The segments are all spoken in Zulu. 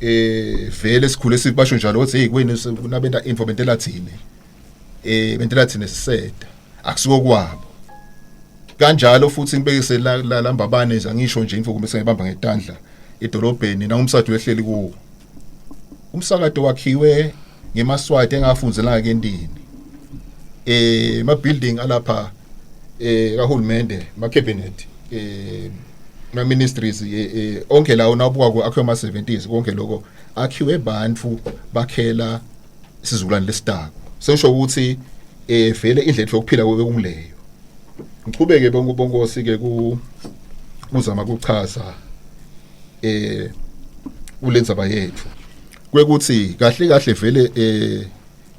eh vele sikhule sibasho njalo ukuthi hey kwenu kunabenta info bentela thina eh bentela thina siseda akusiko kwabo kanjalo futhi ngibekise la la lambabane nje angisho nje info kumbe sengibamba ngetandla edolobheni nangumsado wehleli kuwo umsakado wakhiwe ngemaswati engafunzelanga kendini eh ma building alapha eh kahulumende ma cabinet eh ma ministries eh, eh, onke lawo nawubuka ku akhiwe ma 70s konke lokho akhiwe bantu bakhela isizukulwane lesitako sesho ukuthi eh vele indlela yokuphila kube kungileyo ngichubeke bonke bonkosi ke ku kuzama kuchaza eh kulenzaba yethu kwekuthi kahle kahle vele eh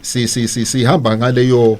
si si si sihamba ngaleyo